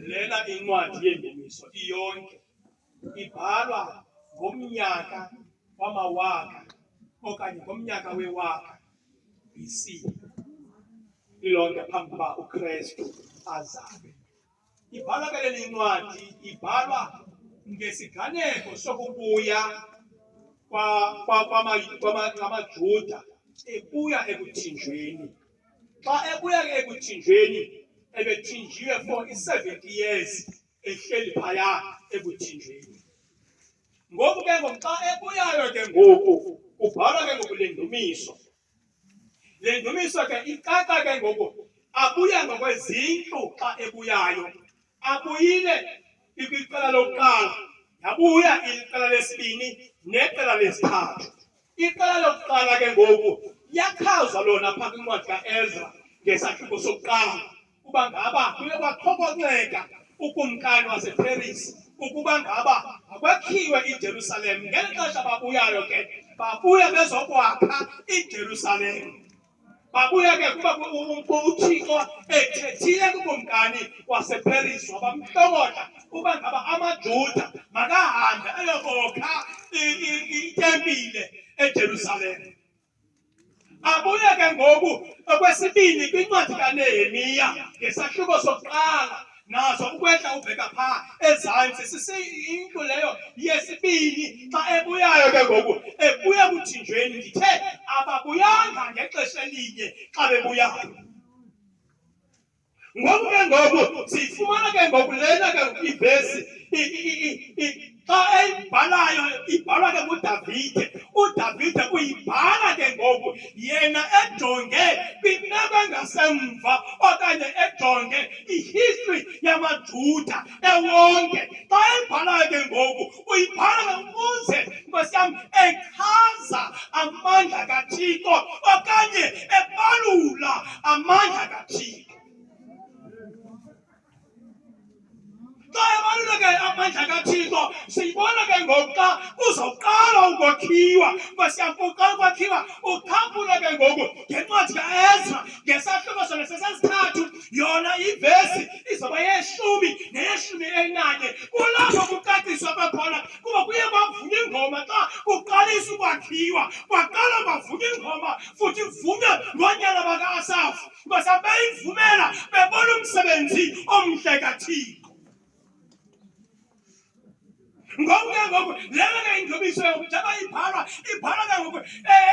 Lela incwadi yengeniso iyonke ibhalwa ngomnyaka wamawaka okanye ngomnyaka wewaka BC ilonke phambi kuba uKristu azalwe. Ibhalwa ke leli incwadi ibhalwa ngesiganeko sokubuya kwamaJuda ebuya ekuthinjweni Xa ebuya ke ekuthinjweni ebethinjiwe for i-70 years ehleli phaya ekuthinjweni. Ngoku ke ngoku xa ebuyayo ke ngoku kubhalwa ke ngoku le ndumiso. Le ndumiso ke icaca ke ngoku abuya ngokwezindlu xa ebuyayo. abuyile ikwiqela lokuqala yabuya iqela lesibini neqela lesithathu iqela lokuqala ke ngoku yakhazwa lona phaa kwincwadi kaezra ngesahluko sokuqala ukuba ngaba kuye kwakhokonceka ukumkani waseperisi ukuba ngaba akwakhiwe ijerusalem ngeli xesha babuyayo ke babuya bezokwakha ijerusalem Babuya ke kuba uThixo ethethile kukumkani wasePeris wabamhlokotha uba ngaba amaJuda makahambe ayokokha itempile eJerusalem. Abuye ke ngoku okwesibini kwincwadi kaNehemiya ngesahluko sokuqala nazo ukwehla ubheka phaa ezantsi sisiyinto leyo yesibini xa ebuyayo ke ngoku ebuya kuthinjweni ndithe ababuyanga ngexesha elinye xa bebuyayo ngoku ke ngoku siyifumana ke ngoku lena ke ngoku ivesi xa eyibhalayo ibhalwa ke ngudavide udavide uyibhala ke ngoku yena ejonge kwimeko engasemva okanye ejonge ihistory yamajuda ewonke xa eyibhalayo ke ngoku uyibhala ukuze nkosi yam echaza amandla kathixo okanye ebalula amandla kathixo Xa ebalula ke amandla kaThixo siyibona ke ngoku xa kuzoqala ukwakhiwa kwesiyampuqala ukwakhiwa uphambula ke ngoku ngencwadi kaEzra ngesahluko sona sesesithathu yona ivesi izoba yeshumi neyeshumi elinanye kulapho kucaciswa kwakhona kuba kuye kwavunywa ingoma xa kuqalisa ukwakhiwa kwaqala kwavunywa ingoma futhi ivunywe ngoonyana baka-asafu Because abeyivumela bebona umsebenzi omhle kaThixo. ngoku ke ngoku lelo ke ingcebiso yokuthi abayibhalwa ibhalwa ke ngoku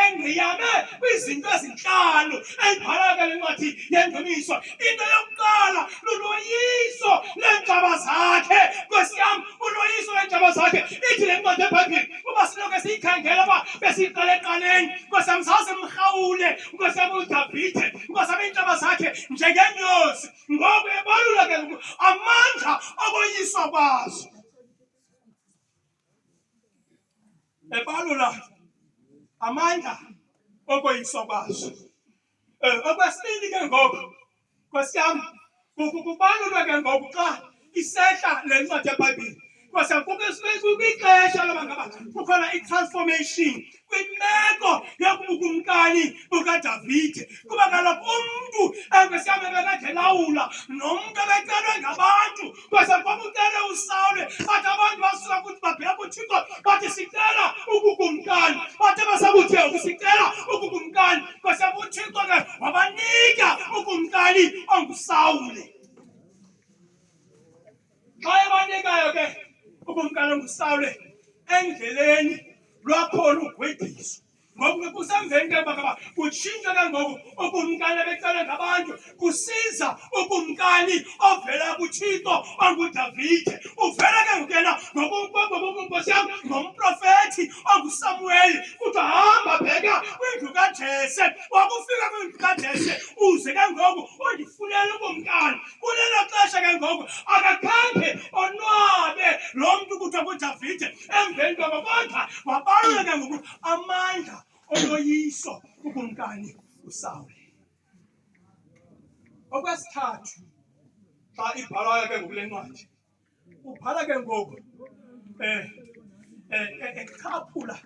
engqiyame kwizinto ezintlanu eyibhalwa ke le ncwadi yengcebiso into yokuqala luloyiso leentshaba zakhe nkosi yam uloyiso leentshaba zakhe ithi le ncwadi ebhayibhile uba sinoke siyikhangela uba besiyiqala eqaleni nkosi yam zaze mrhawule Nkosiyam uDavide, nkosiyam iintaba zakhe njengenyosi, ngoku ebalula ke ngoku amandla okoyiswa kwazo. Ebalula amandla okoyiswa kwazo. Eh, okwesibini ke ngoku Nkosi yam, kukubalulwa ke ngoku xa isehla le ncwadi yeBhayibhile. Nkosi yam, kwixesha loba ngaba kukhona i-transformation kwimeko yokubukumkani bukaDavide. Kuba kaloku umntu enkosi yam ebekade elawula nomntu ebecelwe ngabantu kwase ngoba ucele usawule bathi abantu basuka ukuthi babheka uthixo bathi sicela ukukumkani bathe basakuthi sicela ukukumkani kwase uthixo ke wabanika ukumkani ongusawule xa ebanikayo ke ukumkani ongusawule endleleni lwakhona ugwediswa ngoku ke kusemveni ke bakaba kutshintshwa ke ngoku ukumkani ebecela ngabantu kusiza ukumkani ovela kuthixo ongudavide uvela ke ngoku yena ngokunkosi yam ngomprofethi ongusamuweli kuthiwa hamba bheka kwindlu kajese wakufika kwindlu kajese uze ke ngoku undifunele ukumkani kulelo xesha ke ngoku akakhange onwabe lo mntu kuthiwa kudavide emveni kwaba bonke wabaluleka ngoku amandla oloyiso kukumkani usawule okwesithathu xa ibhalwayo ke ngokule ncwadi ubhala ke ngoku um echaphula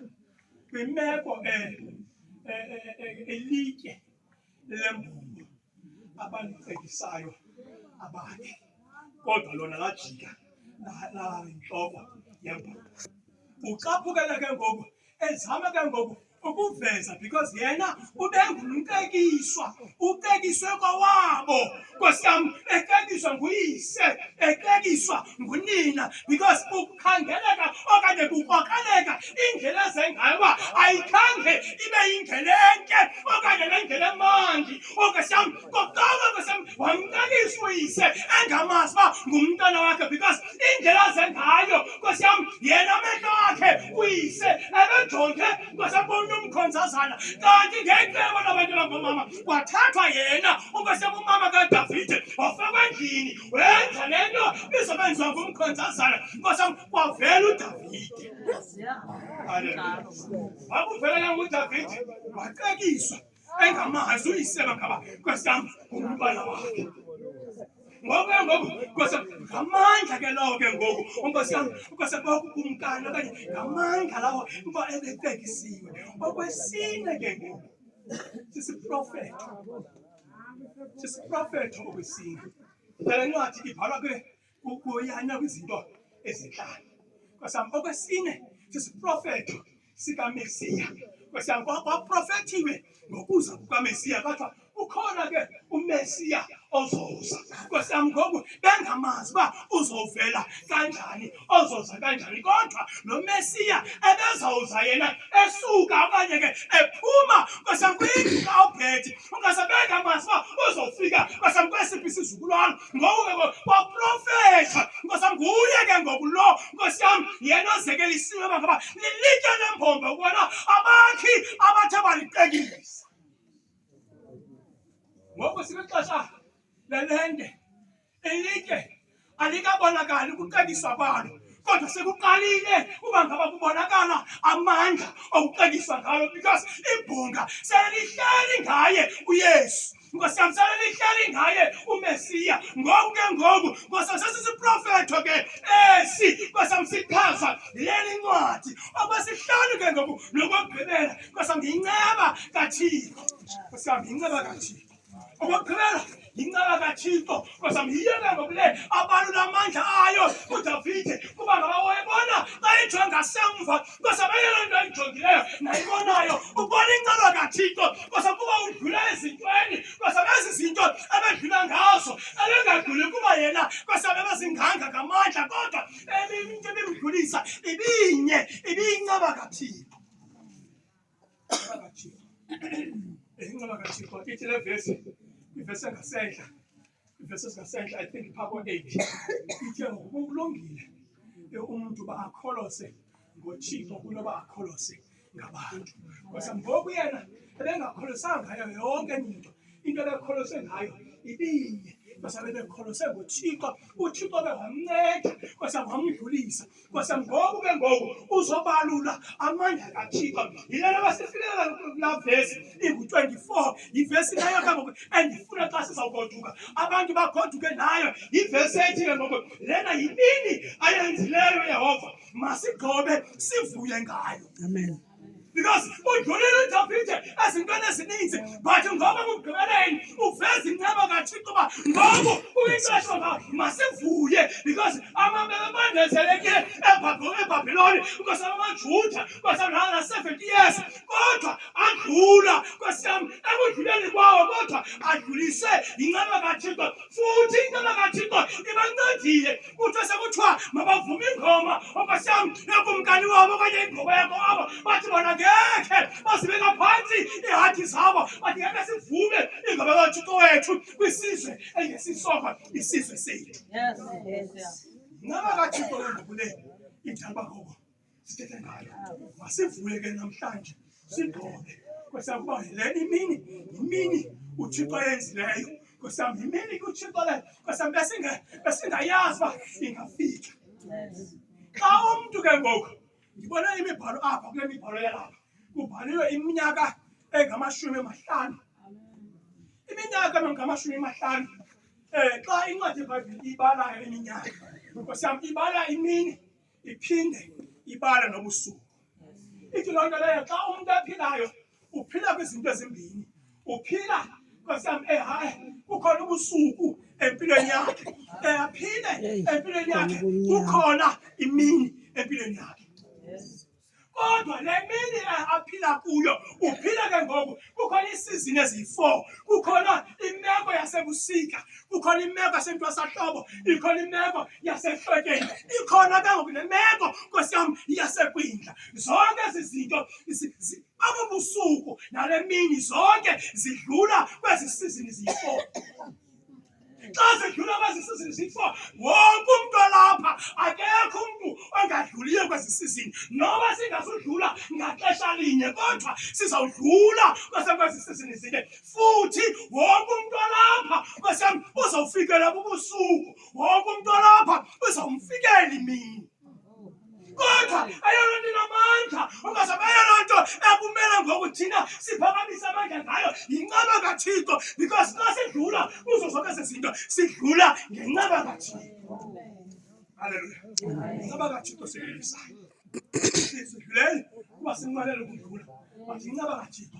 kwimeko um elitye lembumba abandicekisayo abakhe kodwa lona lajika nalala yembumba ucaphukele ke ngoku ezama ke ngoku ukuveza because yena ubengumtekiswa utekiswe kwawabo nkosi yam exetyiswa nguyise exetyiswa ngunina because kukhangeleka okanye kukrokreleka indlela ezengayo uba ayikhange ibe yindlela entle okanye le ndlela emandi onkosi yam kokuqala nkosi yam wamncelisa uyise engamazi uba ngumntwana wakhe because indlela azengayo nkosi yam yena amehlo akhe uyise ebejonge nkosi yam komnye umkhonzazana kanti ngecebo labantu abangomama Kwathathwa yena okwasebumama kaDavide wafakwa endlini wenza le nto izobenziwa ngumkhonzazana nkosam kwavela uDavide wakuvelela ngudavide wacekiswa engamazi uyiseba ngaba kwesam ngumntwana wakhe ngoku ke ngoku kwase ngamandla ke lawo ke ngoku unkosi yam kwase bokukumkani okanye ngamandla lawo uba ebecekisiwe okwesine ke ngoku sisiprofeto sisiprofeto obesini ngale ncwadi ibhalwa ke kuyanya kwizinto ezintlanu kwasam okwesine sisiprofeto sikamesiya kwasam kwaprofethiwe ngokuza kukamesiya kwathiwa ukhona ke umesiya ozoza nkosi yam ngoku bengamazi uba uzovela kanjani ozoza kanjani kodwa lo mesiya ebezawuza yena esuka okanye ke ephuma nkosi yam kwindlu kaobhethi ungase bengamazi uba uzofika nkosi yam kwesiphi isizukulwana ngoku ke kwaprofetha nkosi yam nguye ke ngoku lo nkosi yam yena ozekelisiwe bangaba lilitye lembombo ukubona abakhi abathe baliqekisa ngoku sikwixesha lelende elitye alikabonakali ukucebisa kwalo kodwa sekuqalile uba ngaba kubonakala amandla okucebisa ngalo because ibhunga selihleli ngaye uyesu nkosi yam selelihleli ngaye umesiya ngoku ke ngoku nkosi yam sesisiprofetho ke esi nkosi yam sichaza leli ncwadi okwesihlanu ke ngoku nokokugqibela Nkosi yami ngiyinceba kaThixo. Nkosi yami ngiyinceba kaThixo. Okokugqibela yinceba kaThixo. Nkosi yami yiyeke ngokule abalula amandla ayo uDavide kuba ngaba wayebona bayijonge ngasemva. Nkosi yami eyona nto ayijongileyo nayibonayo ubona inceba kaThixo. Nkosi yami kuba udlula ezintweni. Nkosi yami ezi zinto ebedlula ngazo ebengadluli kuba yena Nkosi yami ebezinganga ngamandla kodwa ebimntu ebimdlulisa ibinye ibiyinceba kaThixo. Inqaba kaThixo ithi le vesi ivesi engasentla ivesi ezingasentla i think phaa ko-eight ithe ngoku kulungile umntu uba akholose ngothixo kunoba akholose ngabantu ngosa ngoku yena ebengakholosanga ngayo yonke enye into into abekholose ngayo ibinye kwase bebekholose ngothixo uthixo behamnceda kwase wamdlulisa kwase ngoku ke ngoku uzobalula amandla kathixo yile nto basifilela kulaa vesi ingu-twenty-four yivesi leyo ke ngoku endifuna xa sizawugoduka abantu bagoduke nayo yivesi ethi ke ngoku lena yimini ayenzileyo yehova masigqobe sivuye ngayo amen because udlulile udavide ezintweni ezininzi but ngoba kumgqibeleni uveza inceba kathixo uba ngoku uyinxesha uba masivuye because amabebe bandezelekile ebhabhiloni kwesam amajuda kwasamlala na-seventy years kodwa adlula kwesam ekudluleni kwawo kodwa adlulise yinceba kathixo futhi inceba kathixo ibancedile kuthiwa sekuthiwa mabavume ingoma okwasam nakumkani wabo okanye ingoma yakho abo bathi bona ngekhe bazibeka phantsi iihathi zabo bathi ngeke sivume ingoma kathixo wethu kwisizwe engesisoko isizwe sethu ngaba kathixo wendibuleni idalba kubo sithethe ngayo. Masivuye ke namhlanje sigqoke kwesakuba le imini yimini uThixo ayenzileyo kwesam yimini kuThixo le kwesam besinge besingayazi uba ingafika xa umntu ke ngoku ndibona imibhalo apha kule mibhalo yalapha kubhaliwe iminyaka engamashumi amahlanu iminyaka engamashumi amahlanu um xa incwadi yebhayibhile ibalayo iminyaka kwesam ibala imini iphinde ibala nobusuku. Ithi loo nto leyo xa umntu ephilayo uphila kwizinto ezimbini, uphila kwesam ehayi eh, kukhona ubusuku empilweni yakhe, eyaphile eh, empilweni yakhe kukhona imini empilweni yakhe. Kodwa le mini aphila kuyo uphila ke ngoku kukhona iisizini eziyi-four kukhona imeko yasebusika kukhona imeko yasentwasahlobo ikhona imeko yasehlekeni ikhona ke ngoku nemeko nkosi yam yasekwindla zonke ezi zinto abo busuku nale mini zonke zidlula kwezi sizini ziyi-four xa zidlula kwezi sizini zifo wonke umntu olapha akekho umntu ongadluliyo kwezi sizini noba singazudlula ngaxesha linye kodwa sizawudlula kwasekwezi sizini zine futhi wonke umntu olapha kwesem uzawufikelwa bubusuku wonke umntu olapha uzawumfikela imini Kodwa ayona nto inamandla ungazabe ayona nto ekumele ngoku thina siphakamise amandla ngayo yincaba kathixo because xa sidlula kuzo zonke ezi zinto sidlula ngencaba kathixo halleluya incaba kathixo siyisayo sidlulele kuba sinqwenele ukudlula but yincaba kathixo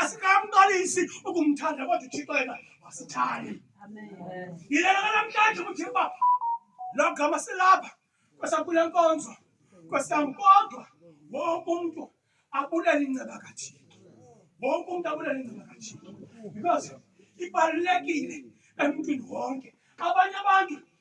Asikamqalisi ukumthanda kodwa uThixo yena wasithanda. Yilena namhlanje ukuthi uba lo gama silapha kwesakule nkonzo kwesankodwa wonke umntu abulele inceba kaThixo. Wonke umntu abulele inceba kaThixo because ibalulekile emntwini wonke. Abanye abantu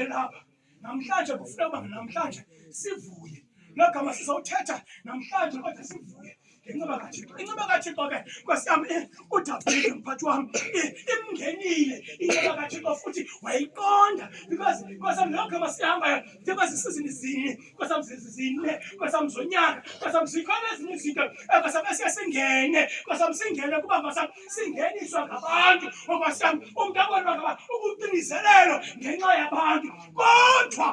elapha namhlanje kufuna uba namhlanje sivuye loo gama sizawuthetha namhlanje kodwa sivuye ngenxiba kathixo inxiba kathixo ke nkosi yam eh, udavide mphathi wam eh, imngenile inxiba kathixo futhi wayiqonda because nkosam loo gama sihambayo ndiba zisizini zine nkosam zine nkosam zonyaka nkosam zikhona ezinye izinto eh, nkosam esiye singene nkosam singene kuba nkosam singeniswa ngabantu okwasam umntu abonwa ngaba ukuqinizelelo ngenxa yabantu kodwa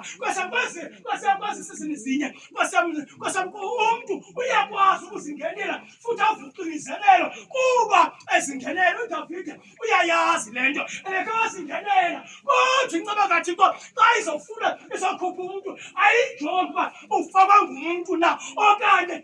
kwasakwezi sizini zinye kwasam umntu uyakwazi ukuzingenela futhi avuqinizelelo kuba ezingenela udavide uyayazi le nto elekekazingenela kodwa inceba kathixo xa izofuna izokhupha umntu ayijongi uba ufakwa ngumntu na okanye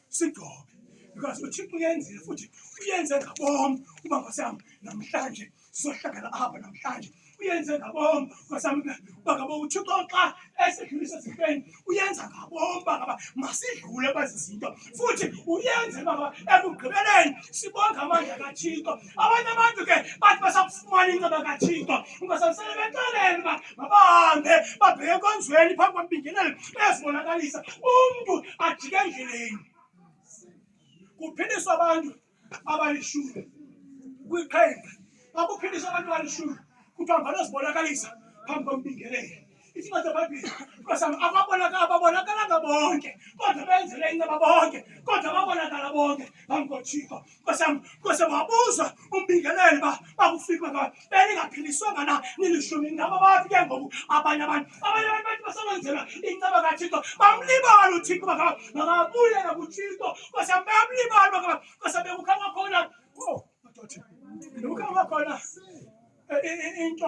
Sidobe because uThixo uyenzile futhi uyenze ngabom uba ngosam namhlanje sizohlangana apha namhlanje uyenze ngabom ngosam uba ngaba uThixo xa esidlulisa ezifeni uyenza ngabom uba ngaba masidlule kwezi zinto futhi uyenze uba ngaba ekugqibeleni sibonge amandla kaThixo abanye abantu ke bathi basakufumana inceba kathixo ungasalisele beceleni uba mabahambe babheke enkonzweni phambi kwambingeleli bezibonakalisa umntu ajike endleleni kuphindiswa abantu abalishumi kwiqhenqa akuphindiswa abantu abalishumi kuthiwa mvane zibonakalisa phambi kwambingeleli Isimo seBhayibhile kwasami ababonakala ababonakalanga bonke kodwa benzele inceba bonke kodwa babonakala bonke phambi koThixo kwasami kwase wabuzwa umbingeleli ba bakufika ka belingaphiliswanga na nilishumi ngaba bathi ke ngoku abanye abantu abanye abantu bathi basebenzela inceba kaThixo bamlibala uThixo bakaba makabuyela kuThixo kwasami bamlibala bakaba kwase bekukhanga khona oh madoda bekukhanga khona into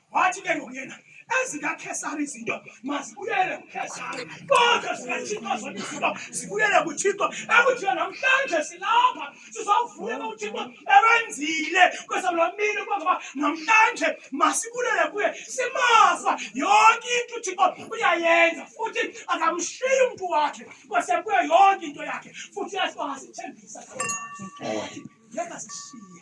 wathi ke ngoku yena ezikakhesari izinto mazibuyele kukhesari kodwa zikathixo zonke izinto zibuyele kuthixo ekuthiwa namhlanje silapha sizawuvuyela uthixo ebenzile kwesamlamini ukuba ngaba namhlanje masibulele kuye simaza yonke into uthixo uyayenza futhi akamshiyi umntu wakhe kwasekuye yonke into yakhe futhi uyasibasithembisa yeka sishiye